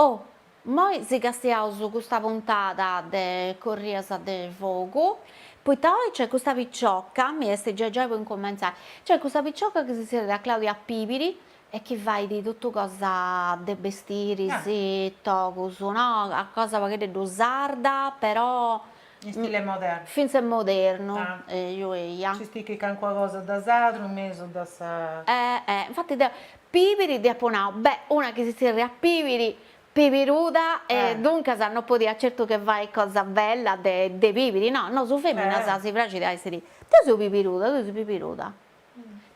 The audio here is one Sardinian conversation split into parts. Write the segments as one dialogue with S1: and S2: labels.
S1: Oh, moi si castiaus custa puntada de Corrias de fogu, poita oi nc'est custa picioca, mi est giai giai po incumentzai, nc'est custa picioca chi si zerriat Claudia Pibiri e chi fait totu cosa de bestiris, togus, no, cosa a pagheddeddu sarda però In
S2: stile modernu. Fintzes
S1: modernu,
S2: eju eja.
S1: Nci sticchit cancuna
S2: cosa de sardu in mesu de sa. Eh eh, infati deu,
S1: Pibiri dd'apo nau, beh, una chi si tzerriat Pibiri, pibiruda, e duncas no podiat certu che fai cosa bella de pibiri, no, nosu feminas si praxit a essi, deu seu pibiruda, tui ses pibiruda.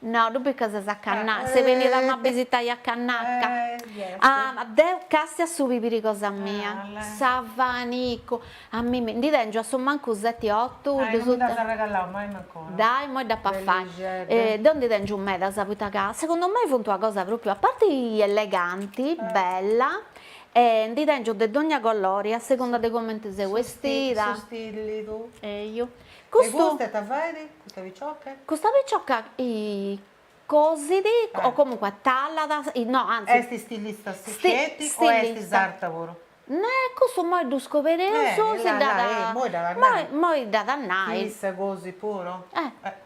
S1: No tui poita ses a cannacca, ses benia 'estia a cannacca,
S2: ah
S1: deu castia su pibiri cosa mia, su ventagliu, a mimi, ndi tengiu a su mancu seti otu cuddu su,
S2: dai immoi dd'apo
S1: a fai, deu ndi tengiu medas poita ca segundu mei funt una cosa propriu, a parti eleganti, bella, e ndi tengiu de dogna colori a segunda de cumenti seu 'estida, E custa
S2: ita fait, custa picioca?
S1: Custa picioca cosit o comunque talat, no anzi. Est stilista
S2: sceti o est sarta puru? Cussu
S1: imoi ddu scobereus, si ddat, moi dd'at a nai. Chi issa cosit puru?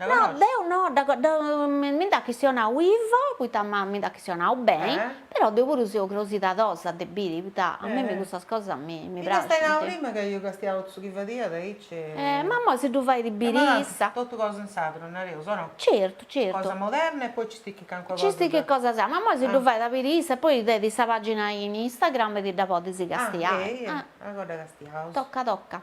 S2: No,
S1: deu no, mi nd'at chistionau Ivo, poita mi nd'at chistionau beni, però deu puru seu crosidadosa de biri, poita a mimmi custas cosas mi praxint. M'iast nau prima ca
S2: iast castiau totu su chi fadiat aici e. Eh, ma immoi
S1: si ddu fait biri issa. Totu cosa in
S2: sardu nareus, o no? Certu, certu.
S1: Cosa moderna
S2: e poi ci sticcit calincuna cosa. Ci sticcit cosa sarda, ma
S1: immoi si ddu fait biri issa e poi tenit sa pagina in Instagram e ti dda podis castiai. Ah, eja, agoa dda castiaus.
S2: Toca, toca.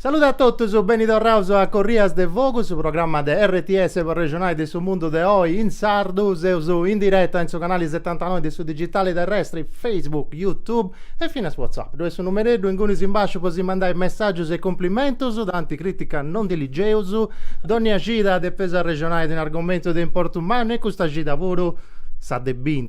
S3: Saludi a totus, beni torraus a Corrias de Fogu, su programma de RTS pro arrexonai de su mundu de oi in sardu. Seus in direta in su canali setantanoi de su digitali terrestri, Facebook, YouTube e finas WhatsApp. Ddoi est su numereddu ingunis in basciu po si mandai messàgius e cumplimentus, tanti crìtica no ndi ligeus, dònnia cida depeus arrexonai de un'argomentu de importu mannu e custa cida puru s'at a biri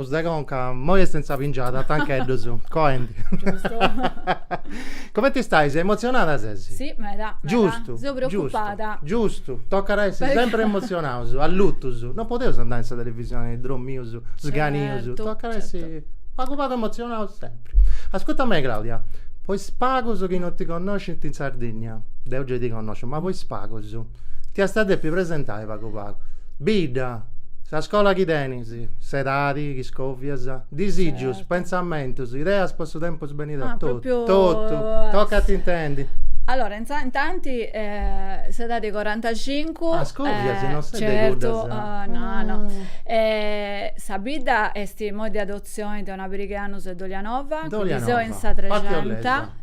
S3: Corpus de conca, moi est in sa pingiada, tancheddus, coendi. Giustu. Comenti stais? Emotzionada ses? Si, meda, meda. Giustu.
S4: Seu
S3: preocupada.
S4: Giustu, giustu. Tocat
S3: a essi sempri emotzionaus, allutus. No podeus andai in sa televisioni dromius, sganius. Certu, certu. Tocat a essi pagu pagu emotzionaus sempri. Ascurta mei Claudia, po is pagus chi no ti connoscint in Sardinnia, deu gei ti connosciu, ma po is pagus, ti asti a depi presentai pagu pagu. Bidda, sa scola chi tenis. Tenis, s'edadi, chi scòvias, disìgius, pentzamentus, ideas po su tempus benidori, totu. Totu, tocat intendi. Allora,
S4: intanti s'edadi 'e corantacincu. Ah, scòvias, non ses
S3: de cuddas. Certu,
S4: no, no. Sa bidda est imoi de adotzioni de una pariga 'e annus 'e Dolianova, chi seu in sa Trexenta.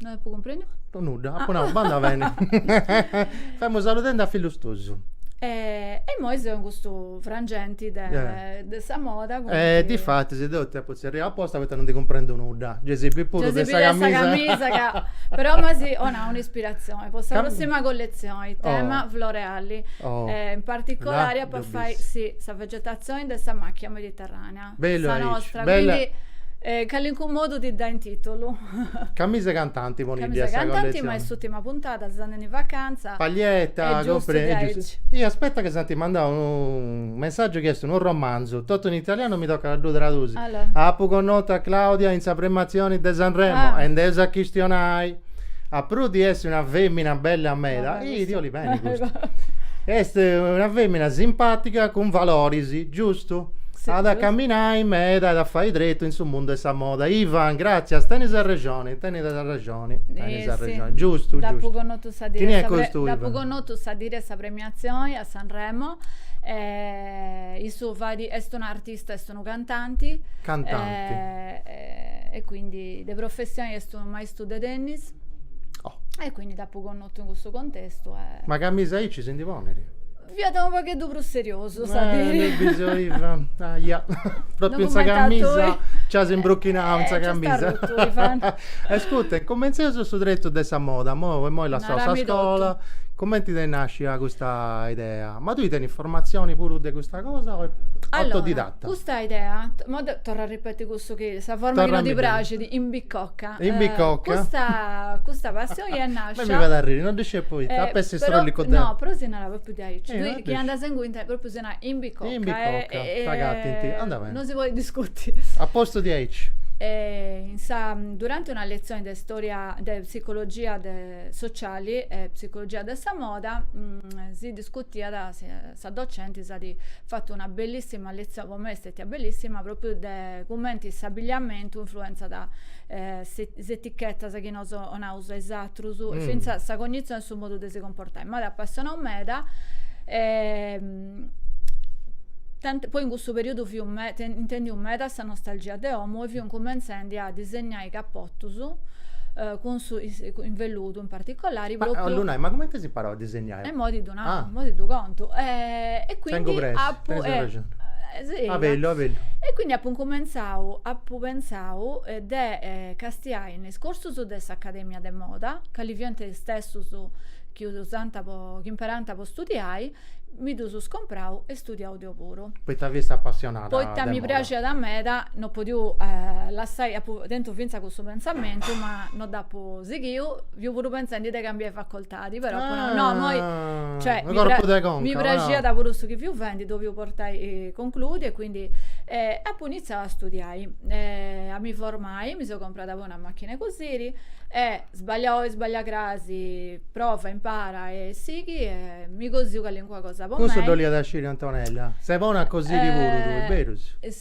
S3: No
S4: apu cumprendiu. No nudda, apu nau,
S3: bandat beni. Femu saludendi a fillus tuus. E, e
S4: immoi seu in custu frangenti de, eh. de sa moda. E difatis
S3: deu ti apu tzerriau aposta poita non ndi cumprendu nudda. Gei si bit puru de sa camisa.
S4: ca, però m'as 'onau un'ispiratzioni po sa prossima colletzioni, tema floreali. Oh. E in particolari apu a fai, si, sa vegetazioni de sa macchia mediterranea. Bellu sa nostra,
S3: quindi
S4: in calincunu modu ti dda intitolu.
S3: Camisa cantanti poniddi a sa collezioni. Camisa cantanti
S4: ma est s'ultima puntada, seus andendi in vacanza. Paglietta, compre,
S3: e giustu. Ih aspetta ca s'ant mandau unu messaggiu chi est unu romanzu, totu in italianu mi tocat a ddu tradusi. Apu connotu a Claudia in sa premiatzioni de Sanremo e nd'eus a chistionai. A prus di essi una femina bella meda, Sì, ti 'olit beni custu. Est una femina simpatiga cun valoris, giustu? At a caminai meda e at a fai tretu in su mundu 'e sa moda. Ivan, gratzias, tenis arrexoni, tenis arrexoni, tenis arrexoni. Giustu, giustu.
S4: Chini est custu, Ivan? Dd'apu connotu sa dì de sa premiatzioni a Sanremo e issu fait, est un'artista, est unu cantanti. Cantanti. E quindi de professioni est unu su de tennis e quindi dd'apu connotu in cussu contestu. E... Ma camisa
S3: aici si ndi ponit? Fiat unu
S4: pagheddu prus seriosu, sa eh, diri. Eh, bisoiva, aia,
S3: propriu in sa camisa, ci as imbruchinau in sa camisa. e ascurta, incumenzeus su tretu de sa moda, imoi, imoi lassau sa scola, cumenti t'est nascia custa idea? Ma tui tenis formatzioni puru de custa cosa o autodidatta? Allora, custa idea,
S4: torru a ripeti cussu chi, sa forma chi non ti praxit, in Bicocca Cocca. In Bicocca.
S3: Custa,
S4: custa passioni est nascia. Ma mi fait arriri, non ddu sciu
S3: poita, ap'essi strollicu deu. No, però si narat propriu
S4: diaici, tui chi andas inguni propriu si narat in Bicocca. In Bicocca,
S3: t'agattint, andat beni. Non si podit
S4: discuti. A postu
S3: diaici. In
S4: sa, durante una lezione de storia, de psicologia sociali e psicologia de sa moda si discutiat. sa docenti s'at fatu una bellissima lezione, po mei est stetia bellissima, proprio de cumenti s'abigliamentu influenzat eh, se, is etichetas chi nos 'onaus a is atrus, e finzas sa cognizioni e su modu de si comportai. M'at apassionau meda e poi in cussu periudu fiu me, intendiu meda sa nostalgia de omu e fiu incumentzendi a disegnai capotus cun su, in velludu in particolari, proprio. Ma, 'ollu nai, ma
S3: cumenti as imparau a disegnai? Eh. E mo ti ddu nau,
S4: Ah. mo ti ddu contu. E, e quindi Tengu pressa, apu, tengu eh, arrexoni. eh,
S3: sì, Abellu, abellu. E quindi
S4: apu incumentzau, apu pentzau eh, de eh, castiai in is corsus de s'Academia de Moda, cali fiant is testus chi usant po, chi imperànt po studiai, mi ddus comprau e studiau deu puru. Poita fiast
S3: apassionada de Poita mi moda.
S4: praxiat meda, no podiu eh, lassai, apu tentu fintzas cussu pentzamentu, ma no dd'apu sighiu, fiu puru pentzendi de cambiai facoltà. portadi, però ah, no, no, moi, cioè, mi, pra- conca, mi praxiat no. puru su chi fiu fendi, depiu portai eh, concludi e quindi eh, apu iniziau a studiai, eh, a mi formai, mi so comprada poi una macchina de cosiri e sbaglia oi, sbaglia crasi, prova, impara e sighi e mi cosiu calincua cosa po Cussu mei. Cussu dd'oliat sciri Antonella,
S3: ses bona a cosiri eh, puru tui, berus?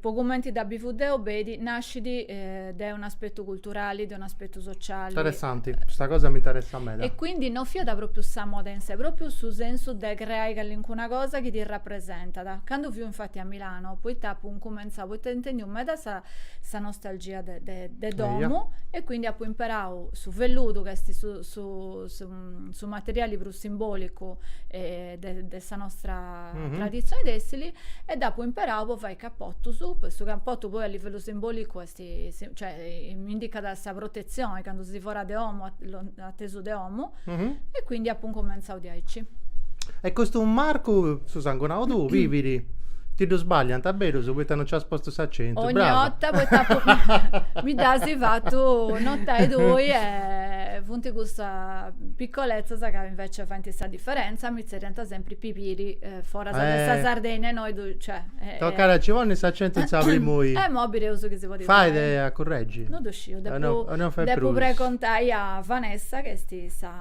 S4: po cumenti dda bivu deu bedi nascit de un aspettu culturali de un aspettu sociali interessanti custa cosa
S3: mi interessat meda e quindi no fiat
S4: propriu sa moda in sé propriu su sensu de creai calincuna cosa chi ti rapresentat candu fiu infatti a Milano poita apu incumentzau poita intendiu meda sa sa nostalgia de de de domu e quindi apu imperau su velludu ch'est su su su materiali prus simbolicu de, de sa nostra mm -hmm. traditzioni tessili e dd'apu imperau po fai capotus, po su capotu poi a livellu simbolicu est, cioè, indicat sa protezioni candu ses fora de omu, atesu de omu mm -hmm. e quindi apu incumentzau diaici. E
S3: custu marcu, su sangunau tuu, Pibiri ti ddu sbagliant berus poita non as postu s'acentu ogni brava. 'orta
S4: poita apu mi dd'as fatu notai tui e funt custas piccolezzas ca invece faint sa differenza differenza mi tzerriant sempri Pibiri foras de eh. sa Sardegna e innoi ddu cioè eh, Tocat a ci ponni
S3: s'acentu in sa primu i. E imoi bideus chi si
S4: podit fai. Fait a curreggi.
S3: Non ddu sciu,
S4: depu
S3: depu pregontai
S4: a Vanessa chi est sa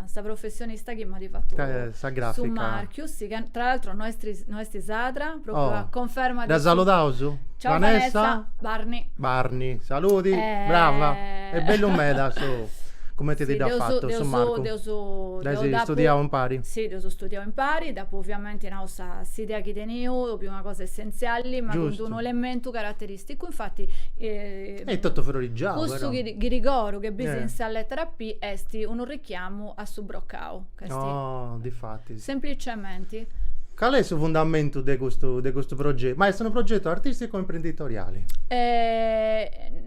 S4: sa professionista chi m'at fatu sa
S3: grafica, su marchiu, sì,
S4: ca tra l'altro no est Est sadra, propriu a conferma de. Dda
S3: saludaus? Ciao
S4: Vanessa, Barni. Barni,
S3: saludi, brava. Est bellu meda su cumenti ti dd'at fatu su marcu. Dd'eus, dd'eus. Dd'eis studiau impari? Sì, dd'eus studiau
S4: impari, dd'apu oviamenti nau sa s'idea chi teniu, propriu una cosa essenziali, ma cun d'unu elementu carateristicu, infati.
S3: Est totu frorigiau però. Custu
S4: ghirigoro chi bis in sa lettera P, est unu richiamu a su broccau.
S3: Oh, difatis.
S4: Semplicementi. Cali est
S3: su fundamentu de custu, de custu progetu? Ma est unu progetu artisticu o imprenditoriali?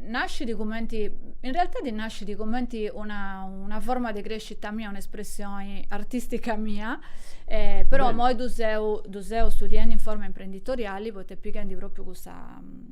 S4: Nascit cumenti, in realtadi nascit cumenti una, una forma de crescita mia, un'espressioni artistica mia, però immoi ddu seu, ddu seu studiendi in forma imprenditoriali, poita pighendi propriu cussa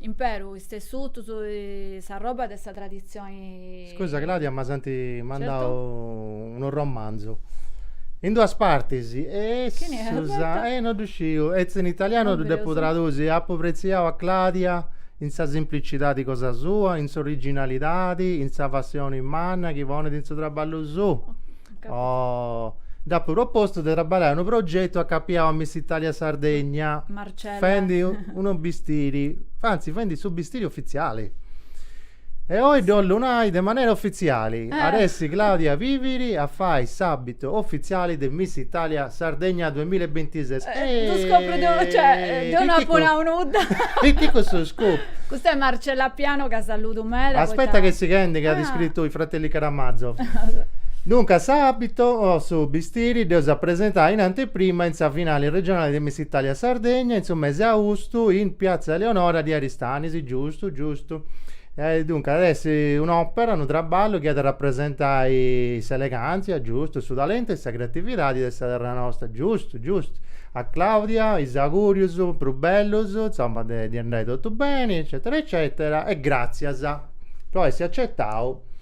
S4: imperu is tessutus, s'arroba de sa traditzioni. Scusa Claudia
S3: ma s'ant mandau
S4: unu
S3: romanzu in duas partis e e no ddu sciu, est in italianu ddu depu tradusi, apu pretziau a Claudia in sa simplicidadi cosa sua, in s'originalidadi, in sa passioni manna chi ponit in su traballu suu. Oh, dd'apu propostu de traballai unu progetu acapiau a Miss Italia Sardegna. Marcella. Fendi
S4: unu
S3: bistiri, anzi fendi su bistiri ofitziali. E oi ddu 'ollu nai de manera ofitziali, at eh essi Claudia Viviri a fai s'abitu ofitziali de Miss Italia Sardegna 2026. Eh, non scopro,
S4: de, cioè, eh, non apo nau nudda. E chi questo
S3: scopo? Questa è Marcella
S4: Piano che saluto meda. Aspetta che si chende
S3: che ah. ha descritto i fratelli Caramazzo. Dunque, s'abito o su bistiri deu sa presentai in anteprima in sa finali regionali de Miss Italia Sardegna in su mese austu in Piazza Eleonora di Aristanis, giustu, giustu. Duncas at essi un'òpera, unu traballu chi at a rapresentai s'elegàntzia, giustu, su talentu e sa creatividadi de sa terra nostra, giustu, giustu. A Claudia is augùrius prus bellus, insoma, de ddi andai totu beni, eccetera, eccetera, e gràtzias po essi acetau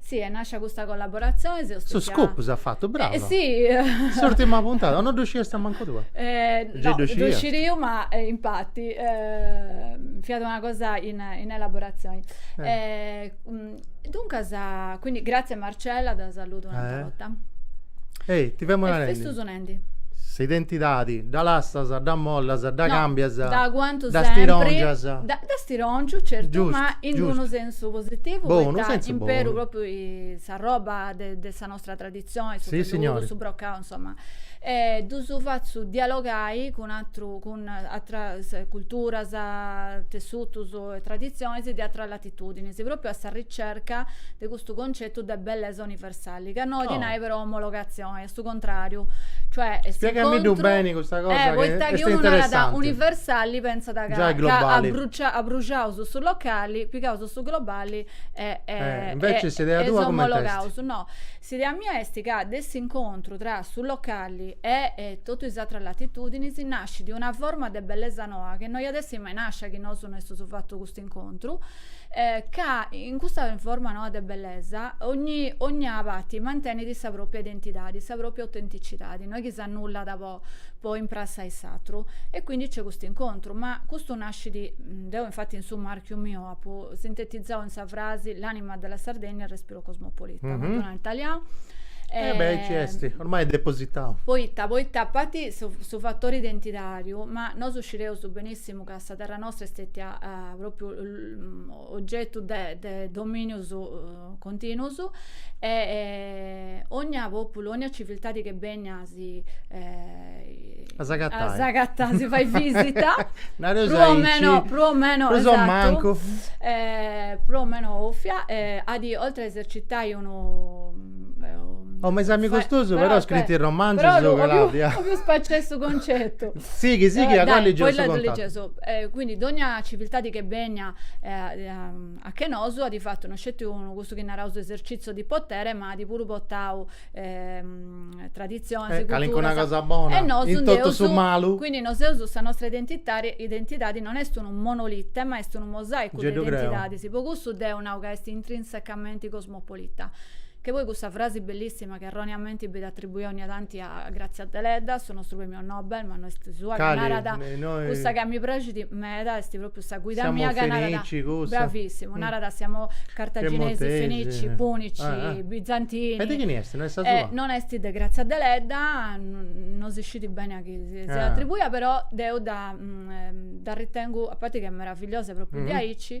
S4: Si, est nàscia custa collaboratzione, seus Su pìa- scoop
S3: s'at fatu, Eh, brava.
S4: si, S'urtima puntata,
S3: o no ddu sciasta mancu tui? Eh, Già no, ddu ddu
S4: scias. sciriu, ma eh, infatti, ehm, fiat una cosa in in elaboratzioni. Eh. Eh, mm, duncas, quindi, gratzias Marcella, dda saludu un'atera Eh. 'orta. Ehi,
S3: ti femu E narendi. festus ne-
S4: Sa
S3: identidadi dda lassas, dda mollas, dda cambias, dda
S4: stirongias.
S3: Dda stirongiu,
S4: certu, ma in unu
S3: sensu
S4: positivu, poita imperu
S3: propriu s'arroba
S4: de sa nostra traditzioni, su velludu,
S3: su brocau,
S4: insoma, ddus fatzu dialogai cun atrus, cun atras culturas, tessutus e traditzionis de atras latitudinis, propriu a sa ricerca de custu concetu de bellesa universali, ca no 'olit nai però omologatzioni, est su contrariu. Cioè, est Spiegamiddu
S3: beni custa cosa eh, poita chi unu narat
S4: universali
S3: pensat
S4: ca, ca abrucia,
S3: abruciaus
S4: su locali, pigaus su globali e, e, eh,
S3: invece s'idea tua omologaus. No,
S4: s'idea mia est ca de s'incontru tra su locali e, e totu is atras latitudinis nascit una forma de bellesa noa chi no iat essi mai nascia chi nosu no estus fatu custu incontru, ca in custa forma noa de bellesa ogni, ogna parti mantenit sa propria identidadi, sa propria autenticitadi, no è chi s'annullat po, po imprassai s'atru. E quindi c'è custu incontru, ma custu nascit, deu infatti in su marchiu miu apu sintetizau in sa frasi l'anima della Sardegna e il respiro cosmopolita, no ddu nau in talianu. Eh beh, aici
S3: est, ormai est depositau. Poita, poita a
S4: parti su fattori identitariu, ma nosu scideus benissimu ca sa terra nostra est stetia eh, propriu oggettu de, de dominius eh, continuus e eh, ogna populu, ogna civiltadi ch'est bènnia a si eh, a s'agatai, a s'agatai, a si fai visita prus o meno, prus o meno prus o mancu
S3: eh,
S4: prus o meno 'òfia eh, at oltre a esercitai unu
S3: Oh ma is amigos tuus però scrint unu romanzu su Claudia.
S4: 'Ollu
S3: spaciai
S4: su concetu. Sighi sighi
S3: ca poi legiu su contatu. Quindi dogna
S4: civiltadi che benia a che nosu at fatu no sceti unu custu chi naraus esercìtziu de poteri ma at puru portau traditzionis, culturas. Calincuna cosa
S3: bona in totu su malu. Quindi noseus sa
S4: nostra identidadi non est unu monolite ma est unu mosaicu de identidadis. Po cussu deu nau ca est intrinsecamenti Cosmopolita, che poi cussa frasi bellissima che erroneamenti benit attribuia ogni tanti a Grazia Deledda, su nostru premio Nobel, ma no est sua, ca narat, cussa ca mi praxit meda est propriu sa guida mia ca narat, bravissimu, narat siamo cartaginesi, fenici, punici, bizantini, e de chini est? No
S3: est sa sua? non est
S4: de Grazia Deledda, no si scit beni a chini siat attribuia, però deu dda ritengu, a parti ca est meravigliosa propriu diaici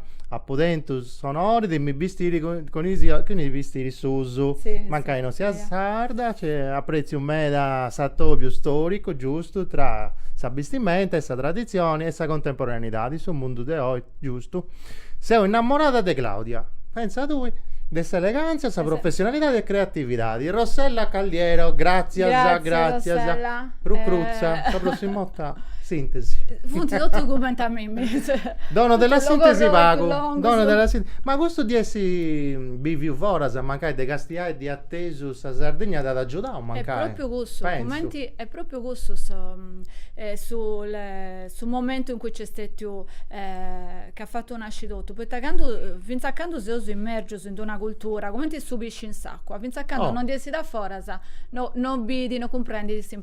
S3: apu tentu s'onori de mi bistiri cun cun is bistiris suus, mancai non siat sarda, cioè apretziu meda s'atobiu storicu giustu tra sa bistimenta e sa traditzioni e sa contemporaneidadi, su mundu de oi giustu. Seu innamorada de Claudia, pentza tui, de s'elegantzia, sa professionalidadi e creatividadi. Rossella Calliero, gratzias, gratzias, Rucruzza, sa prossima 'orta sintesi. Funt totus
S4: cumenti a mimmi Dono della
S3: sintesi pagu. Dono della sintesi. Ma custu di essi biviu foras, mancai de castiai di atesu sa Sardigna t'at agiudau mancai. Est propriu cussu,
S4: cumenti, est propriu cussu su momentu in cui nc'est stetiu ca at fatu nasci totu, poita candu, finzas a candu seus immergius in d'una cultura, cumenti su pisci in s'acua, finzas a candu non ndi essit aforas no no bit, no cumprendi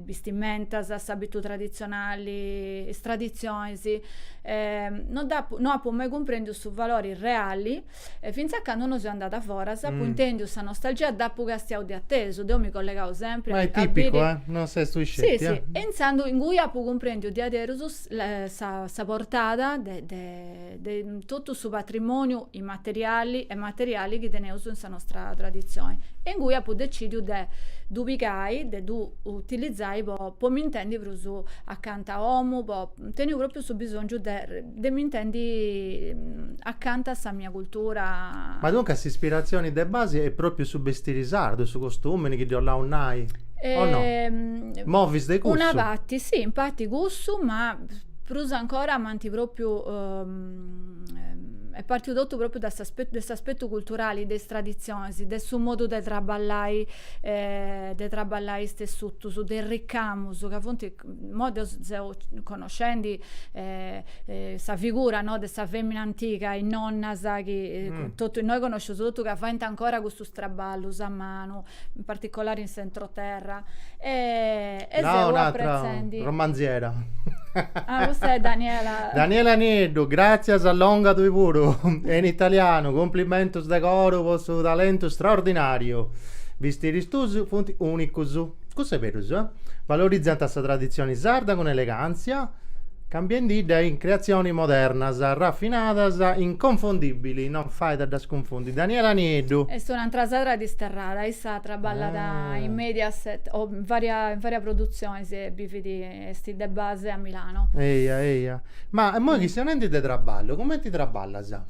S4: bistimentas, s'abitu traditzionali, is traditzionis, no dd'apu no apu mai cumprendiu su valori reali e fintzas a candu no seu andada foras apu intendiu sa nostalgia dd'apu castiau de atesu, deu mi collegu sempri a biri. Ma è tipicu,
S3: eh?
S4: Non ses
S3: tui
S4: sceti. Sì,
S3: sì. E
S4: intzandus ingui apu cumprendiu diaderus sa portada de de totu su patrimòniu immateriali e materiali chi teneus in sa nostra traditzioni e ingui apu decìdiu de ddu pigai, de ddu utilizai po mi intendi prus acanta a omu, apu tentu pròpriu su bisòngiu de mi intendi acanta a sa mia cultura. Ma duncas
S3: s'ispiratzioni de basi est pròpriu su bestiri sardu, su costumini chi dd'oleus nai, o no? Movis de cussu? Una parti, si, in
S4: parti cussu ma Prus ancora m'ant pròpiu est pàrtiu totu pròpiu de de s'aspetu culturali, de is traditzionis, de su modu de traballai de traballai is tessutus, de is ricamus ca funt, imoi deu seu connoscendi sa figura no de sa femina antiga, is nonnas chi totu innoi connosceus totu ca faint ancora custus traballus a manu in particolare in s'entroterra e, e no,
S3: seu apretzendi
S4: romanziera
S3: ah,
S4: custa è Daniela Daniela Nieddu,
S3: gràtzias ah longa tui puru e in italianu cumplimentus de coru po su talentu straordinàriu bistiris tuus funt ùnicus cussu est berus eh? valorizant sa traditzioni sarda cun elegàntzia cambiendidda in creatzioni modernas, rafinadas, inconfondìbili, non fait a ddas cunfundi, Daniela Nieddu. Est un'antra
S4: sadra disterrada, issa traballat in Mediaset o in varias produtzionis e bivit, est de base a Milano. Eja, eja.
S3: Ma immoi chistionendi de traballu, cumenti traballas?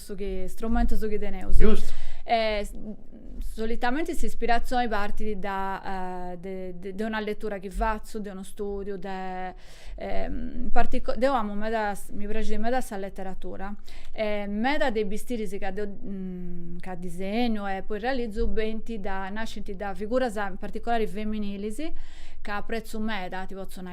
S4: su chi strumentu su chi teneus. Giustu.
S3: E
S4: solitamente s'ispirazioni partit da de, de, de una lettura chi fatzu, de unu studiu, de ehm, partico- deu amu meda, mi praxit meda sa letteratura e meda de is bistiris ca deu ca disegnu e poi realizu benint da nascint da figuras in particolari feminilis ca apprezzu meda, ti potzu nai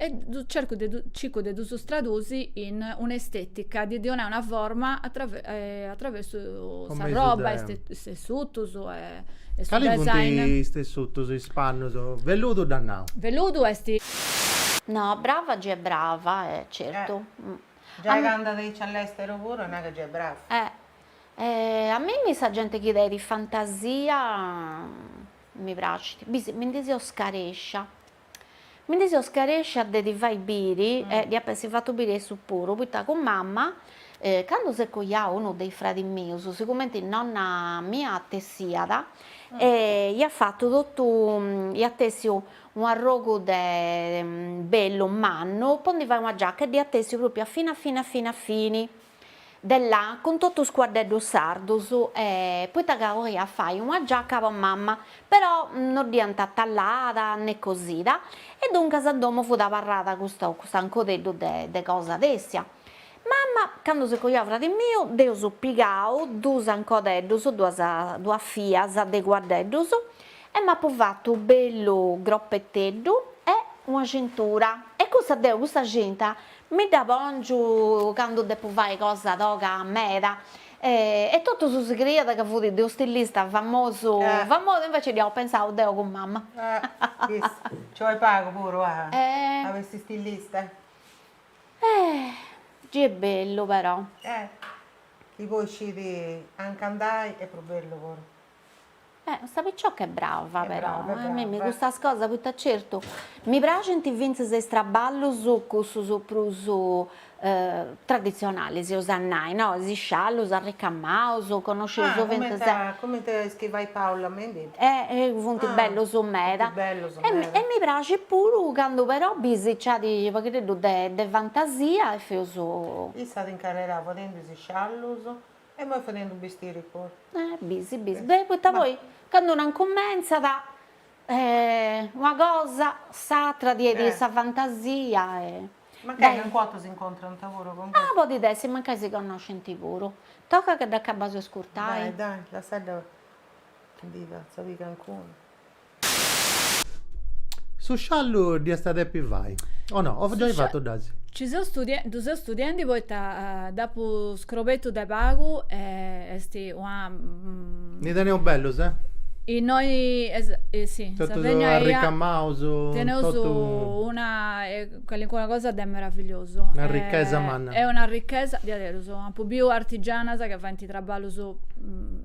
S4: e ddu cercu de ddu, circu de ddus tradusi in un'estetica, de ddi 'onai una forma atraversu sa Compresu roba, de- is te- is tessutus
S3: e su
S4: Cali funt design. is
S3: tessutus, is pannus? Velludu dd'at nau. Velludu
S4: est.
S1: No, brava gei est brava, eh, certu. Giai c'andat aici
S2: a
S1: l'esteru
S2: puru nai ca gei est brava. Eh.
S1: A mimmi sa genti chi tenit fantasia. Mi pracit, bisi, mi ndi seu scarescia, mi ndi seu scarescia de ti fai biri, e ddi apu essi fatu biri a issu puru, poita cun mama, candu s'est coiau unu de is fradis mius, sigumenti nonna mia tessiat, iat fatu totu, iat tessiu u' arrogu de bellu mannu po ndi fai una giacca, e dd'iat tessiu propriu a fini a fini a fini a fini, de lana cun totu is cuaddeddus sardus e poita ca oliat fai una giacca po mama però no dd'iant tallada ne cosida e duncas a domo fut abarrada custa cust'ancodeddu de de cosa tessia mama candu s'est coiau fradi miu nd'eus pigau duus ancodeddus duas duas fias de cuaddeddus e m'apu fattu u' bellu groppeteddu e una cintura e cussa deu cussa cinta Mi dda pòngiu candu depu fai cosa toga meda e totu su sigriat ca fut de unu stilista famosu famosu invece dd'apu pensau deu cun mama. Nci
S2: 'olit pagu puru a bessi
S1: stilista? Gei est bellu però.
S2: Chi poi scit anca andai est prus bellu puru Eh,
S1: custa picioca est brava però, a
S2: mimmi custas
S1: cosas poita certu mi praxint fintzas is traballus cussus prus traditzionali seus a nai no, is sciallus arricamaus, connoscius fintzas, ah
S2: cumenti
S1: is chi
S2: fait Paula Mendi, eh
S1: funt bellus meda,
S2: e mi praxit
S1: puru candu però bisiciat u' pagheddeddu de fantasia e feus, issa at
S2: incarrerau fadendi is sciallus E imoi fadendu bistiri puru. Eh bisi
S1: bisi, beh poita poi candu una incumentzat una cosa s'atra ddui est sa fantasia e.
S2: Mancai calincuna 'orta s'incontrant puru cun. Ah podit
S1: essi
S2: mancai
S1: si connoscint puru. Tocat ca dd'acabaus 'e iscurtai. Dai dai lassa·dda
S2: chi ndi fatzat biri cancuna.
S3: Su sciallu dd'iast a depi fai, o no, o giai fatu dd'asi?
S4: Ci
S3: seu studia
S4: ddu seu studiendi poita dd'apu scrobetu de pagu e est una Ndi teneus
S3: bellus, eh?
S4: Innoi si, in Sardigna
S3: eia,
S4: teneus una calincuna cosa de meravigliosu. Una ricchesa manna.
S3: Est una ricchesa,
S4: diaderus, apu biu artigianas chi faint traballus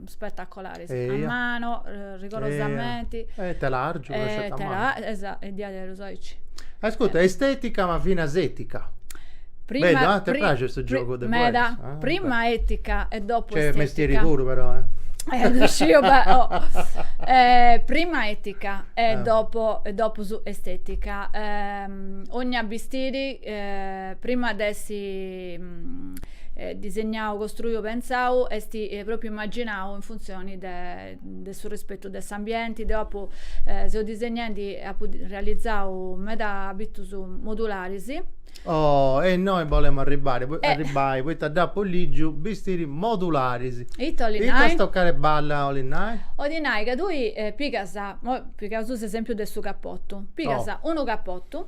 S4: spettacolaris A mano, rigorosamenti. E telàrgiu
S3: tesset a manu.
S4: Esa, e diaderus aici.
S3: Ascurta, estetica ma finas etica. Prima, Bellu, eh? Te praxit su giogu de poesia? Meda, prima
S4: etica e dopo estetica. C'est mestieri puru
S3: però, eh. Eh, ddu
S4: sciu, beh, oh. Eh, prima etica e dopo, e dopo su estetica. Eh, ogna bistiri, eh, prima de essi... disegnau, costruiu, pentzau, est propriu immaginau in funzioni de de su rispetu de s'ambienti, deu apu seu disegnendi e apu realizau meda abitus modularis. Oh,
S3: e innoi bolemu arribbari, arribbai, poita dd'apu ligiu, bistiri modularis. Ita 'olit nai?
S4: Ita stocada
S3: 'e balla 'olit nai? 'olit nai ca tui
S4: pigas, pigaus s'esempiu de su capottu, pigas unu capottu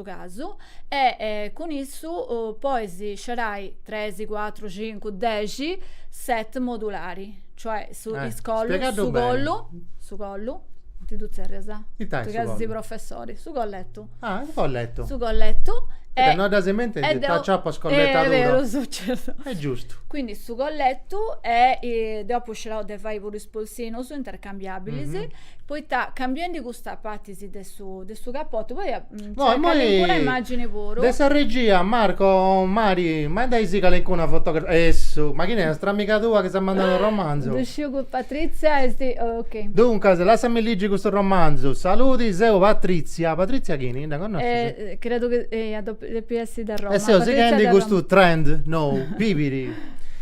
S4: casu e cun issu pois scerai 3, 4, 5, 10 set modulari, cioè su, eh, is collu, su collu,
S3: su collu,
S4: ita ddu tzerrias? Ita tui chi ses
S3: professori,
S4: su
S3: colletu.
S4: Ah, su colletu.
S3: Su
S4: colletu. E, e no ca si
S3: mentu deu, t'acciappas colletu eh, vero,
S4: successo. È giusto.
S3: Quindi su
S4: colletu e, e deu apu scerau de fai puru is polsinus intercambiabilis, mm -hmm. poita cambiendi custas partis de su, de su capotu, poi No, a moi calincuna immagini puru. De sa
S3: regia, Marco, Mari, mandaisi calincuna fotografia. Essu, ma chini est, amiga tua chi s'at mandau unu romanzu? Ddu sciu ca Patrizia
S4: est, ok. Duncas, lassami
S3: ligi custu romanzu. Saludi, seu Patrizia. Patrizia chini? Dda connoscis? Credu chi
S4: eia, depi essi de Roma. E seu
S3: sighendi custu trend nou, bibiri.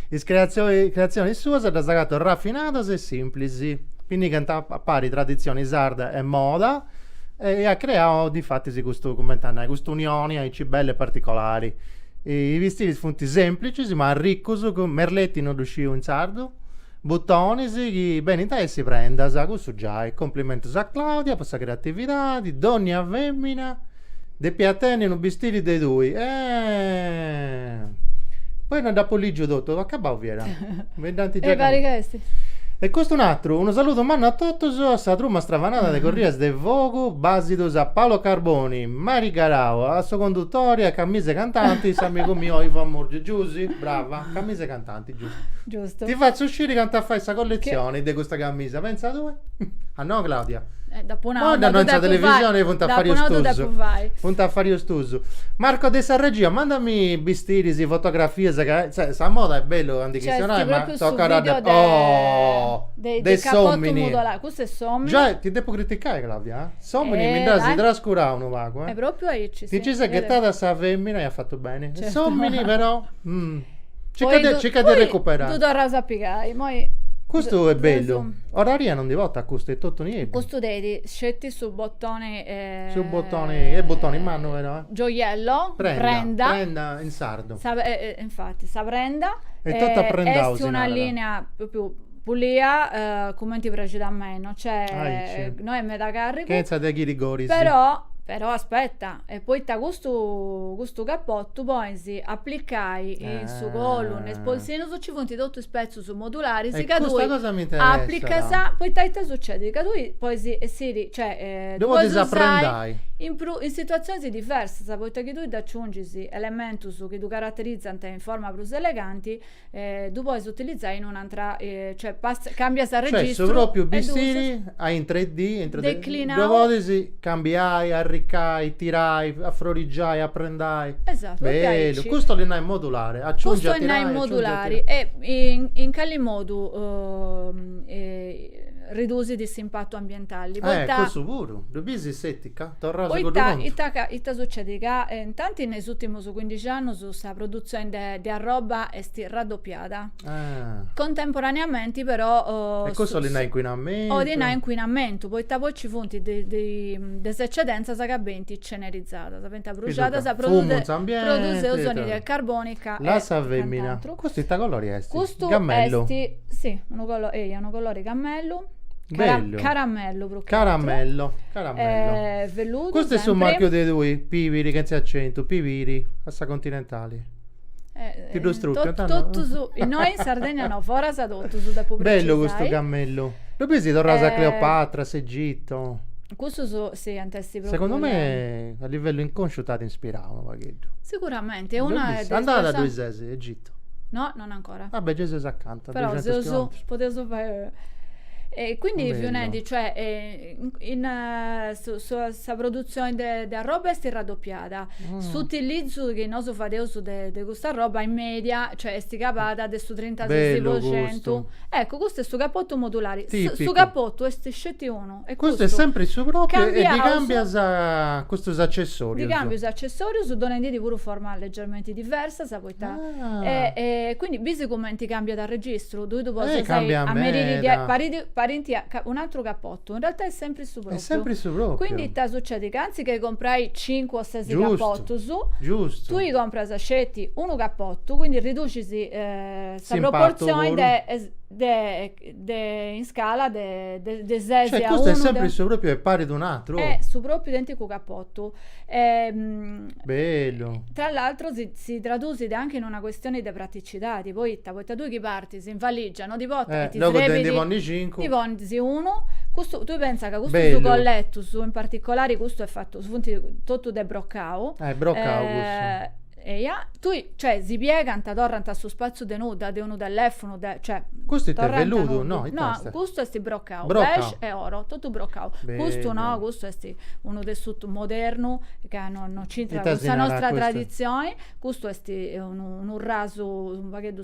S3: Is creatzionis suas ddas agato rafinadas e simplis. Minigant a pari traditzioni sarda e moda. e at creau difatis custu, cumenti a nai, custa unioni aici bella e particolari. Is bistiris funt semplicis ma arricus cun merletti no ddu sciu in sardu, butonis chi benint a essi prendas, cussu giai, complimentus a Claudia po sa creatividadi, dònnia fèmina Depiat tenni unu bistiri de tui. Poi no dd'apo lìgiu totu, acabau fiat. Mi dd'ant giai. E parit ca est. E custu unu atru, unu saludu mannu a totus, a sa truma stravanada de Corrias de Fogu, bàsidus a Paolo Carboni, Mari Garau, a su condutori, a Camisa 'e Cantanti, s'amigu miu Ivan Murgiu. Giusy, brava, Camisa 'e Cantanti. Giustu.
S4: Ti fatzu sciri
S3: candu fais sa colletzioni de custa camisa, pentza tue? A no Claudia? Eh, dopu nau,
S4: ma no in
S3: sa televisioni funt afàrius tuus. Funt afàrius tuus. Marco de sa regia, mandami bistiris, fotografias ca, cioè, sa moda est bellu a ndi chistionai, ma tocat a dda. Oh! De s'omini.
S4: Custu est s'omini. Giai, ti depu
S3: criticai Claudia? S'omini mi dd'as trascurau unu pagu, eh. E propriu aici, sì. Ti nci
S4: ses ghetada a sa
S3: femina e as fatu beni. S'omini però. Circa de, circa de recuperare. Tu torras a
S4: pigai a, moi Custu è
S3: bellu. Oraria non ddi fatu custu est totu nieddu. Custu tenit sceti
S4: su bottoni eh, su bottoni,
S3: è bottoni mannu però. Eh. Gioiello, prenda,
S4: prenda,
S3: prenda in sardo. Sa, eh,
S4: infatti,
S3: sa prenda è totu
S4: aprendau.
S3: Est una
S4: linea proprio pulia uh, cumenti praxit a mei, cioè ah, non
S3: è meda carricu. Chenza
S4: de ghirigoris.
S3: Però però
S4: aspetta, E poita custu custu cappotu pois aplicai in su colu ne is polsinus ci funt totu is petzus modularis ca tui custa cosa
S3: m'interessat aplicas poita
S4: ita sucedit ca tui pois essiri
S3: cioè ddu podis
S4: aprendai
S3: in prus in
S4: situazionis diversas poita chi tui dd'aciungis elementus chi ddu caraterizant in forma prus eleganti eh, ddu pois utilizzai in un'antra, eh, cioè pass- cambias a Cioè, registru. su propriu e ddu-
S3: bistiri
S4: in
S3: 3D, in 3D, Declinau. ddu
S4: podis
S3: cambiai, arricai, tirai, afrorigiai, aprendai. Esatu, e diaici. Bellu,
S4: custu 'olit
S3: nai modulare, aciungi Custu 'olit e tirai, nai aciungi e
S4: modulari
S3: tirai. e in, in
S4: cali modu ridusit s'impatu ambientali, Eh, poita, cussu puru,
S3: ddu bisi s'etica? Torraus a cuddu poita contu. ita ca,
S4: ita
S3: sucedit,
S4: ca, eh, intanti in is urtimus su cuindixi annus sa produtzioni de, de arroba est raddoppiada. Ah. Contemporaneamenti però. Oh, e custu 'olit nai
S3: incuinamentu? 'olit nai incuinamentu,
S4: poita poi ci funt de, de, de is eccedenzas ca benint cenerizadas, benint abruxadas produ, produseus anidride carbonica e. La sa femina.
S3: Custu ita
S4: colori
S3: est? Custu cammellu. est si,
S4: unu colori, eia, unu colori cammellu. Cara,
S3: Bellu. Caramellu prus che
S4: Caramello,
S3: caramello. Eh,
S4: velludu Custu est su sempre. marchiu
S3: de tui,
S4: Pibiri,
S3: chentzi acentu, Pibiri, a sa Continentali. Eh, Ti ddu strupiant totus,
S4: innoi in Sardegna no, foras totus depu precisai. Bellu custu cammellu.
S3: Ddu bisi torraus a Cleopatra, a s'Egitu. Cussus
S4: si ant essi propriu. Segundu me
S3: a livellu inconsciu t'at inspirau unu pagheddu. Siguramente, e una
S4: de is persona. Andada ddoi ses,
S3: Egitu? No, non ancora.
S4: Ah beh, gei seus acanta,
S3: duxentus chilometrus.
S4: Podeus fai e quindi fiu nendi, cioè in sa produtzioni de arroba est raddopiada, s'utilizu chi nosu fadeus de custa arroba in media, cioè est cabada de su trintases po centu. Bellu custu. Eccu, custu est su capotu modulari. Tipicu. Su capotu est sceti unu. e custu est sempri
S3: su pròpiu e ddi
S4: càmbias
S3: custus accessòrius? Ddi càmbiu is
S4: accessòrius donendi ddi puru formas legermenti diversas poita e quindi bisi cumenti càmbiat arregistru tui ddu podis ameriri diaicci parint un aturu capotu in realtà est sempri su pròpiu est sempri su pròpiu
S3: quindi ita sucedit
S4: ca antzis che comporai cincu o sesi
S3: capotus
S4: giustu tui compras sceti unu capotu quindi riducis sa proportzioni de de in scala de de ses cioè custu est sempri
S3: su propriu e parit un atru oh est su propriu
S4: identicu capotu bellu
S3: tra l'altro si
S4: si tradusit anche in una questioni de praticidadi poita poita tui chi partis in valigia no ti portas e ti srebit logu de ndi ponni
S3: cincu ndi ponis
S4: unu custu tui pensa ca custus colletus in particolari custu est fatu funt totu de brocau ah est brocau cussu
S3: Eja,
S4: tui, cioè, si piegant, torrant a su spatzu de nudda, de unu tellèfunu, de, cioè, Custu ite, torrant velludu?
S3: nudda. No, ite No,
S4: est?
S3: custu est
S4: brocau, Brocau. beige e oro,
S3: totu
S4: brocau. Custu no, Bellu.
S3: custu
S4: est unu tessutu modernu ca no no nc'intrat Ita cun si sa narat nostra
S3: custu?
S4: traditzioni,
S3: custu
S4: est unu unu rasu u' pagheddu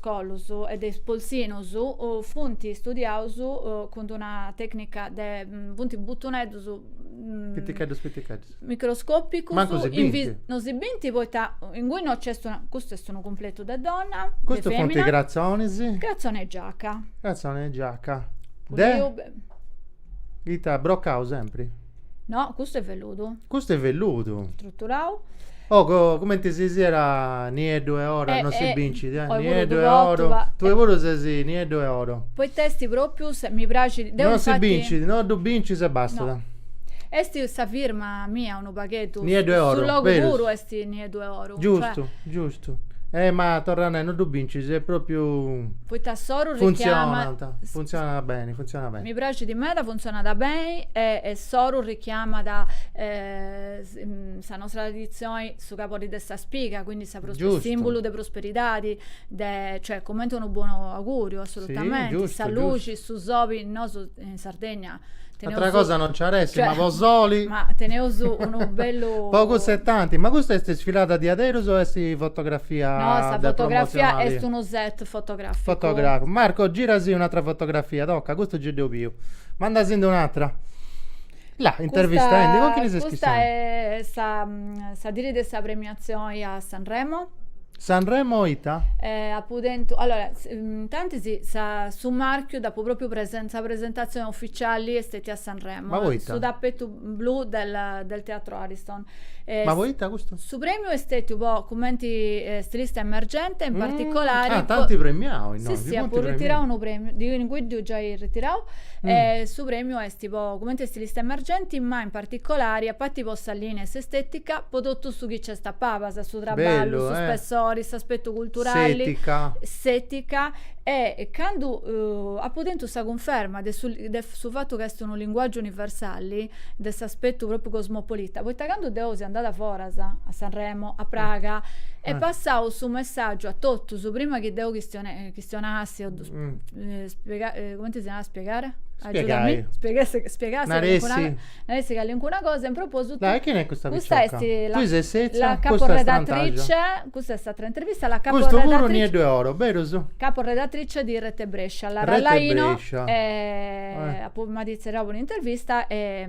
S4: Collus e de is polsinus funt studiaus cun d'una tècnica de, funt butuneddus, Piticheddus
S3: piticheddus.
S4: microscòpicus. Mancu si bint.
S3: Non si bint
S4: poita inguni non nc'est una, custu est unu cumpletu de donna, de femina. Custu
S3: funt
S4: cratzonis.
S3: Cratzone 'e giaca.
S4: Cratzone 'e giaca
S3: de ita, brocaus sempri? No, custu
S4: est velludu. Custu est
S3: velludu.
S4: Struturau. Oh, co,
S3: cumenti si siat Nieddu e oro, eh, non si eh, bincit, eh, Nieddu e oro,
S4: tue
S3: puru
S4: eh. ses Nieddu
S3: e oro. Poita est propriu,
S4: mi praxit, deu Non si bincit, no
S3: ddu bincis e bastat.
S4: No. Est sa firma mia unu pagheddu. Nieddu e oro, Su
S3: logu berus. puru
S4: est
S3: Nieddu
S4: e oro. Giustu, cioè. giustu. Eh,
S3: ma torra a nai, non ddu bincis, est propriu. Poita s'oru richiamat.
S4: Funtzionant, funtzionat
S3: beni, funtzionat beni. Mi praxit meda,
S4: funtzionat beni e s'oru richiamat sa nostra traditzioni, su cabori de sa spiga, quindi sa simbulu de
S3: prosperidadi,
S4: de cioè cumenti unu bonu auguriu, assolutamente, sa
S3: luxi,
S4: su soli, nosu in Sardegna teneus, Atra cosa
S3: non nci at essi, ma po soli, ma
S4: teneus unu bellu, po cussu e tanti, ma
S3: custa est isfilada diaderus o est fotografia de promozionali? No, sa
S4: fotografia est
S3: unu
S4: set
S3: Fotograficu. Fotografu.
S4: Marco,
S3: girasi un'atra fotografia, toca, custu gei
S4: dd'eus
S3: biu. Mandasindi un'atra. La, intervistendi, cun chini ses Custa chistionendi?
S4: est
S3: sa, mm,
S4: sa diri de sa premiazioni a Sanremo.
S3: Sanremo ita? Eh, apu
S4: tentu, allora, s- mm, intantis sa- su marchiu dd'apu propriu presen- sa presentazioni ufficiali est stetia a Sanremo. Ma poita? Su tapetu blu del, del Teatro Ariston. Eh, Ma poita
S3: custu? Su prèmiu est
S4: stètiu po cumenti eh, stilista emergente, in mm. particolari... Ah, t'anti premiau
S3: innoi, Sì, sì, apu ritirau unu
S4: prèmiu, diu in cuddu giai ritirau, mm. eh, su prèmiu est po cumenti stilista emergenti, ma in particolari, a pati po sa lìnia e s'estètica, po totu su chi nc'est a palas, su traballu, Bellu, su eh. spessori, s'aspetu culturali, s'ètica, E candu apu tentu sa cunferma de su de su fatu ca est unu linguàgiu universali, de s'aspetu pròpriu cosmopolita, poita candu deu seu andada foras, a Sanremo, a Praga, est passau su messàgiu a totus, prima chi deu chistionassi o cumenti si narat spiegare? Spiegai. Spiegassi calincuna cosa No est calincuna cosa, in propositu. Dai, chini est custa picioca? Custa est
S3: la. Tui ses sètzia, custa est strantaxa. La caporedatrice,
S4: custa est s'atra intervista, la caporedatrice. Custu puru nieddu e
S3: oro, berus? Caporedatrice di
S4: Rete Brescia, a Lara Laino. Rete Brescia.
S3: E
S4: apu, m'at itzerriau po un'intervista e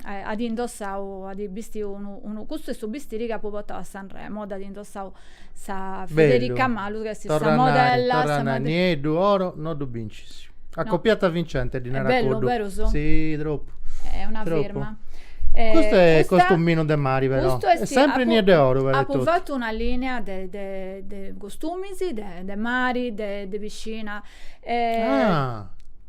S4: at indossau, at bistiu unu, custu est su bistiri chi apu portau a Sanremo, dd'at indossau Sa Federica Malu chi est sa modella, torra
S3: Nieddu e oro no ddu bincis. Acopiata vincente ddi narat cuddu. Bellu, berus? Si, tropu. Est una firma.
S4: Custu
S3: est costuminu de mari però. Custu est Sempre Nieddu e oro però. Apu fatu
S4: una linea de costumis de mari, de piscina. Ah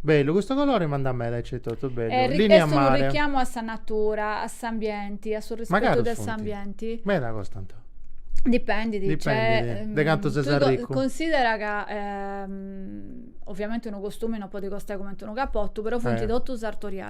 S4: Bellu, custu
S3: colore bandat meda aici etotu, bellu. Est Linea a unu mare.
S4: richiamu a sa natura, a s'ambienti, a su Ma rispetu caru de sunt? s'ambienti. Meda costant.
S3: Dipendit,
S4: nc'est. Dipendit de cantu
S3: ses tui arricu. Considera
S4: ca ovviamenti unu costumi non podit costai cumenti unu capotu, però funt totu sartorialis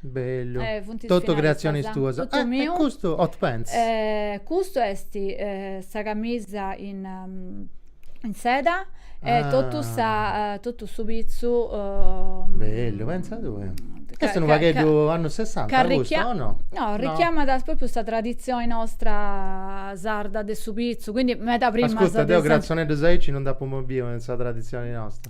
S3: Bellu. Eh, funt is
S4: Totu creatzionis
S3: tuas. Totu
S4: Ah,
S3: e
S4: miu.
S3: custu
S4: hot
S3: pants. Eh,
S4: custu est sa camisa in in seda e Ah. totu sa totu su pitzu
S3: Bellu, pentza tui. ca- Est unu ca- pagheddu annus sessanta ca arricchia- custu o no? No,
S4: arricchiamat propriu sa traditzioni nostra sarda de su pitzu, quindi meda prima de Ascurta, deu sempri. cratzoneddus
S3: aici non nd'apu mai biu in sa traditzioni nosta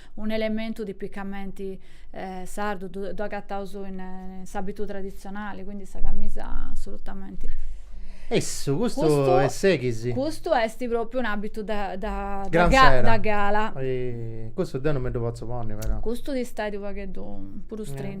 S4: Unu elementu tipicamenti eh, sardu, ddu agataus in, in s'abitu traditzionali, quindi sa camisa assolutamente. Essu,
S3: custu, custu est sexy. Custu est
S4: propriu un abitu da, da, da, ga,
S3: da
S4: gala. E custu deu
S3: non mi ddu potzu ponni però. Custu ti stait unu
S4: pagheddu puru strintu.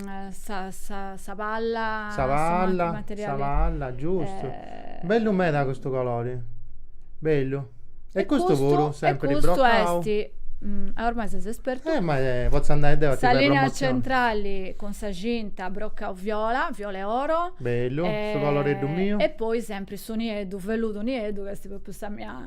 S4: sa, sa, sa palla sa palla sa
S3: palla giustu bellu meda custu colori bellu e custu puru sempri broccau ah ormai
S4: ses espertu eh ma potzu andai deu
S3: a ti fai promozioni sa linea centrali
S4: cun sa cinta broccau viola viola e oro bellu su
S3: coloreddu miu e poi sempri su
S4: nieddu velludu nieddu ch'est propriu sa mia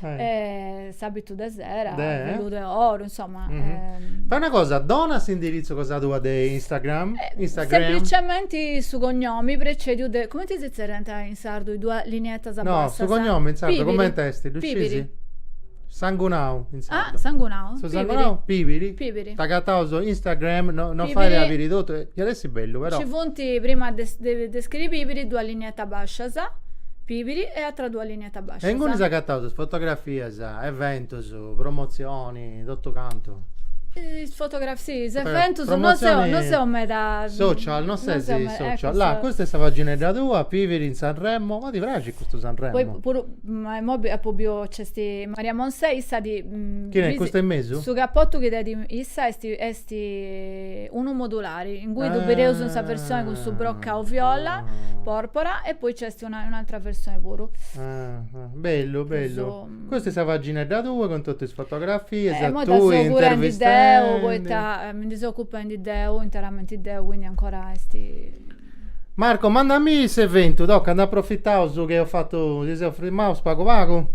S4: e s'abitu de sera, velludu e
S3: oru,
S4: insoma. Fai una
S3: cosa, dona s'indiritzu cosa tua de Instagram. Semplicementi
S4: su cognomi precediu de, cumenti si zerriant in sardu is duas linietas bassas? No, su cognomi
S3: in
S4: sardu
S3: cumenti est, ddu sciis? Sangunau in sardu. Ah, sangunau. Su
S4: sangunau,
S3: Pibiri. Pibiri.
S4: T'agataus
S3: Instagram, no fait a biri totu, iat essi bellu però. Ci funt prima
S4: de scriri Pibiri duas linietas bascias, Pibiri, e atras duas linietas. E inguni
S3: t'agataus is fotografias, eventus, promotzioni, totu cantu. Is
S4: fotografias, si, is eventus, non seu, non seu
S3: meda
S4: social, non ses
S3: in social. Là, custa
S4: est sa
S3: paginedda tua, Pibiri in Sanremo, ma ti praxit custu Sanremo? Poi puru,
S4: ma imoi apu biu, nc'est Maria Monsè, issa ti. Chini est custa in
S3: mesu? Su capotu chi
S4: tenit issa est, est unu modulari, ingui ddu bideus in sa versioni cun su brocau viola, porpora, e poi nc'est ti una, un'atra versioni puru. Ah, ah,
S3: bellu, bellu. So...
S4: Mm, Custa est sa
S3: paginedda tua cun totu is fotografias, eh, mo tu
S4: intervistendi.
S3: Poita eh,
S4: mi ndi seu occupendi deu, interamente deu, quindi ancora esti...
S3: Marco, mandami s'eventu, tocca, ndi approfitaus chi eus fatu, si seus firmaus pagu pagu.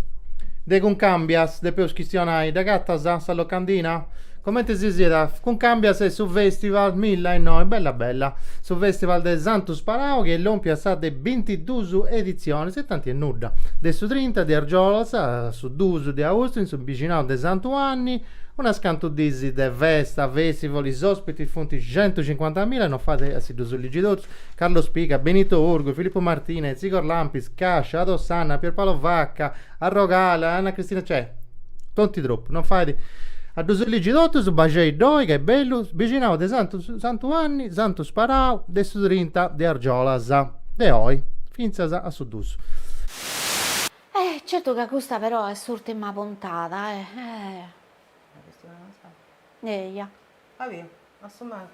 S3: De Cuncambias depeus chistionai, dd'agatas sa locandina? Comente si zerriat Cuncàmbias est su fèstival milla innoi bella bella su fèstival de Santu Sparau chi est lompiu a sa de bintiduus editzionis e tanti est nudda de su trinta de argiolas a su duus de austu in su bixinau de Santu Anni unas cantu diis de festa fèstival is òspitis funt centucincuantamilla no fait a si ddus ligi totus Carlo Spiga Benito Urgu Filippo Martinez Igor Lampis Cascia Ado Sanna Pierpaolo Vacca Arrogala, Anna Cristina, cioè, tonti troppu, non fait... a ddus ligi totus, baxei ddoi, ca est bellu, bixinau de Santu, Santu Juanni, Santu Sparau, de su trinta de argiolas, de oi, fintzas a su dus.
S1: Eh, certu ca custa però est s'urtima puntada, eh, eh. Eia. Fabio, a
S2: su mancu.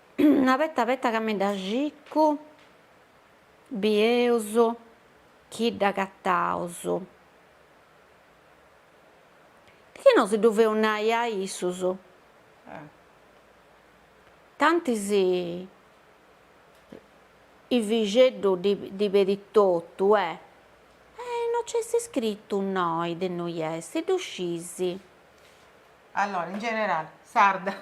S2: abeta abeta
S1: ca mi dda circu bieus chi dd'agataus, chi no si ddu feus nai a issus, tanti si Ivixeddu ddi pedit totu e no nc'est iscritu innoi de innui est, ddu scis.
S2: Allora in generale sarda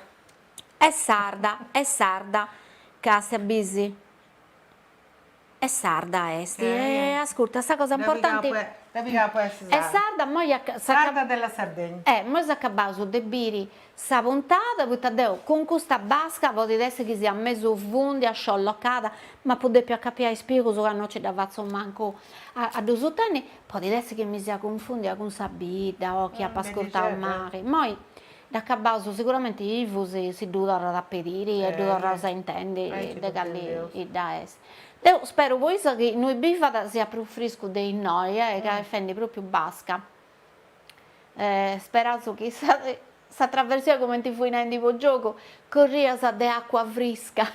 S1: Est sarda, est sarda. Castia, bis. Est sarda est. E ascurta, sa cosa importanti. Dda pigai ca est sarda.
S2: Est sarda, moi a. Sarda
S1: della
S2: Sardegna. E moi s'acabaus
S1: de biri sa puntada, poita deu cun custa basca, podit essi chi siat mesu cunfundia, sciolocada, m'apu depiu acapiai is pilus ca no nci dda fatzu mancu a ddus susteni, podit essi chi mi sia cunfundia cun sa bidda o chi apa ascurtau mali. Moi Dd'acabaus, siguramenti Ivu si ddu torrat a pediri e ddu torraus a intendi de cali bidda
S2: est.
S1: Deu speru po issa chi innui bivat siat prus friscu de innoi ca est fendi pròpiu basca. Speraus chi sa trasmissioni cumenti fui narendi po giogu corrias de àcua frisca.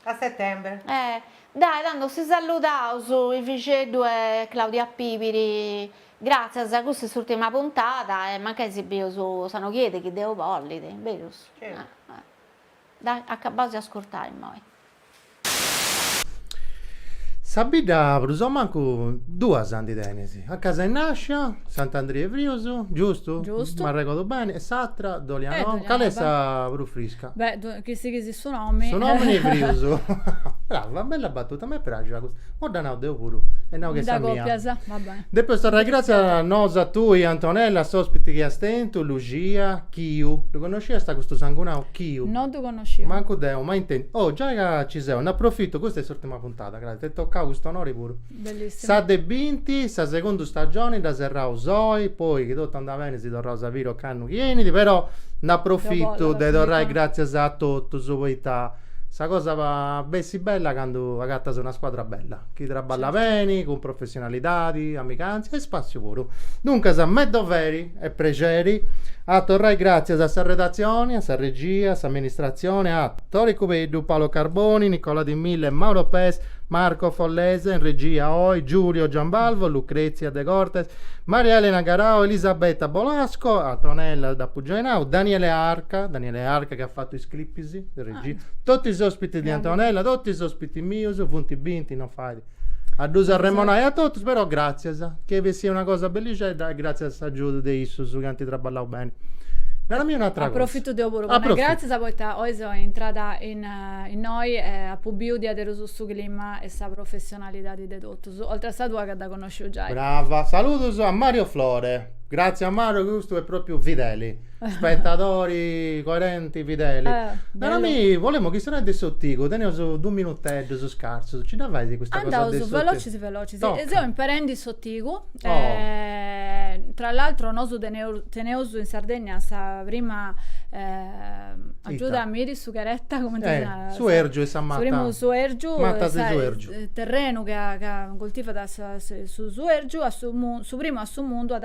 S2: A setembre. Eh. Dai,
S1: tando si salludaus Ivixeddu e Claudia Pibiri, gràtzias, custa est s'ùrtima puntada e mancai si bieus s'annu chi enit chi Deus bollit, berus? Dai, acabaus de ascurtai immoi.
S3: Sa bidda prus o mancu duas ndi tenis, acanta ses nascia, Sant'Andria 'e Frius, giustu? Giustu. M'arregordu bene,
S4: e
S3: s'atra, Dolianova, cale est sa
S4: prus
S3: frisca? Beh, chi sighis
S4: su nomini. Su nomini 'e
S3: Frius. Brava, bella battuta, m'est praxia custa. Moi dda nau deu puru e nau chi est sa mia. Mi dda copias? Va bene.
S4: Depeus torrai gratzias
S3: nosu a tui Antonella, a s'ospiti chi as tentu, Luxia, Chiu. Ddu connosciast custu sangunau Chiu? No ddu connosciu.
S4: Mancu deu, mai
S3: intendiu. Oh, giai ca ci seu, nd'aprofittu, custa est s'urtima puntada, gratzias, t'est tocau cust'onori puru. Bellissimu. Sa de
S4: binti,
S3: sa segunda stagioni dda serraus oi, poi chi totu andat beni si torraus a biri ocannu chi enit, però nd'aprofittu de torrai gratzias a totus, poita sa cosa bessit bella candu agatas una scuadra bella, chi traballat beni, cun professionalidadi, amigantzia e spassiu puru. Duncas, me doveri e prexeri a torrai gràtzias a sa redatzioni, a sa regia, a s'amministratzioni, a Tore Cubeddu, Paolo Carboni, Nicola Di Mille e Mauro Pes, Marco Follese in regia oi, Giulio Giambalvo, Lucrezia De Cortes, Maria Elena Garau, Elisabetta Bolasco, Antonella dd'apu giai nau, Daniele Arca, Daniele Arca chi at fatu is clipis de regia, totu is ospitis de Antonella, totu is ospitis mius, funt binti, non fait A ddus arremonai a totus, però gràtzias, chi est bessida una cosa bellixedda e gràtzias a s'agiudu de issus chi ant traballau beni. Naramì un'atra cosa. Aprofitu deu puru po
S4: nai gràtzias poita
S3: oi seu
S4: intrada innoi e apu biu diaderus su clima e sa professionalidadi de totus, oltre a sa tua ca dda connosciu giai. Brava. Saludus
S3: a Mario Flore. Gràtzias a Mario, custu est pròpriu fideli. Spettadori coerenti fideli. Naramì,
S4: bolemu chistionai
S3: de s'otigu, teneus dus minuteddus scarsus, ci dda fais custa cosa de s'otigu? Andaus velocis velocis. Toca.
S4: Seu imperendi
S3: s'otigu,
S4: tra l'altro nosu teneus in Sardegna sa prima, agiudami, sughereta, cumenti si narat? Suergiu est
S3: sa mata. Su primu suergiu. Mata
S4: de suergiu.
S3: Terrenu chi
S4: cultivat su suergiu, su primu a su mundu at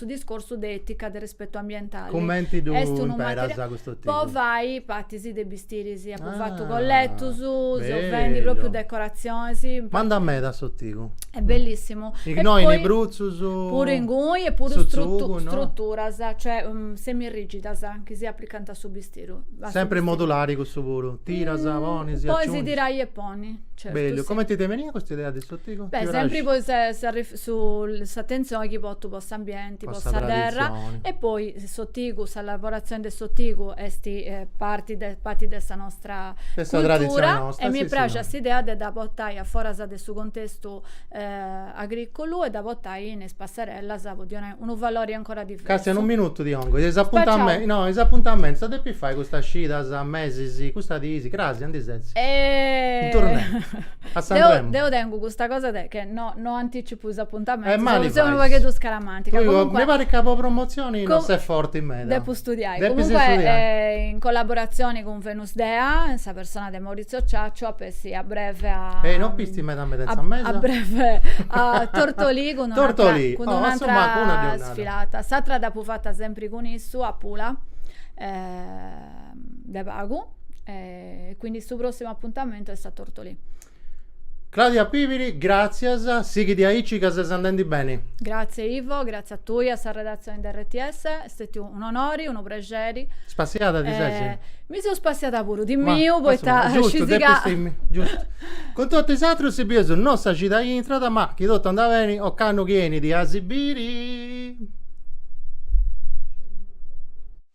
S4: su discorsu de etica de respetu ambientali cumenti
S3: ddu imperas custu otigu? po fai
S4: patis de bistiris apu fatu colletus seu
S3: fendi propriu decoratzionis m'andat
S4: meda
S3: s'otigu
S4: est bellissimu innoi in is
S3: brutzus puru inguni
S4: e
S3: puru strutturas
S4: cioè semirrigidas chi si aplicant a su bistiru sempri modulari
S3: cussu puru tiras ponis e aciungis podis tirai e
S4: ponni bellu cumenti ti est benida
S3: custa idea
S4: de
S3: su Beh, sempri
S4: po s'attenzioni chi pottu po s'ambienti, po sa
S3: terra e
S4: poi s'otigu, sa lavorazioni de s'otigu esti parti de sa nostra
S3: cultura e mi praxia
S4: s'idea de
S3: dda
S4: pottai a forasa de su contestu agriculu e dda pottai in is passarellas po ddi donai unu valori ancora diversu. Castia unu minutu ti
S3: 'ongo, is apuntamentus, no is apuntamentus ita depis fai custas cidas, mesis, custas diis, cras, aundi ses? In
S4: tournée,
S3: a Sanremo. Deu tengu custa
S4: cosa de che no no anticipu is apuntamentus, deu seu unu
S3: pagheddu
S4: scaramantica, comunque. Mi parit ca po
S3: promotzioni no ses forti meda. Depu studiai,
S4: comunque in
S3: collaboratzioni
S4: cun. Venus Dea sa persona de Maurizio Ciaccio ap'essi a breve a E no pistis meda meda
S3: in sa mesa? A breve
S4: a Tortolì cun un'atra Tortolì, cun oh, un'atra
S3: insomma, cun una deunada. sfilata. S'atra
S4: d'apu fatta sempri cun issu a Pula de pagu e quindi su prossimu appuntamento est a Tortolì.
S3: Claudia Pibiri, gràtzias, sighidi aici ca ses andendi beni. Gràtzie
S4: Ivo, gràtzie a tui, a sa redatzioni de RTS, est stètiu un'onori, unu prexeri. Spassiada ti ses?
S3: Mi seu spassiada
S4: puru, timmia,
S3: poita
S4: scisi ca.
S3: Giustu, timmia, giustu. Cun totu is atrus si bius no sa cida chi intrat, ma, chi totu andat beni, ocannu chi 'enit a si biri.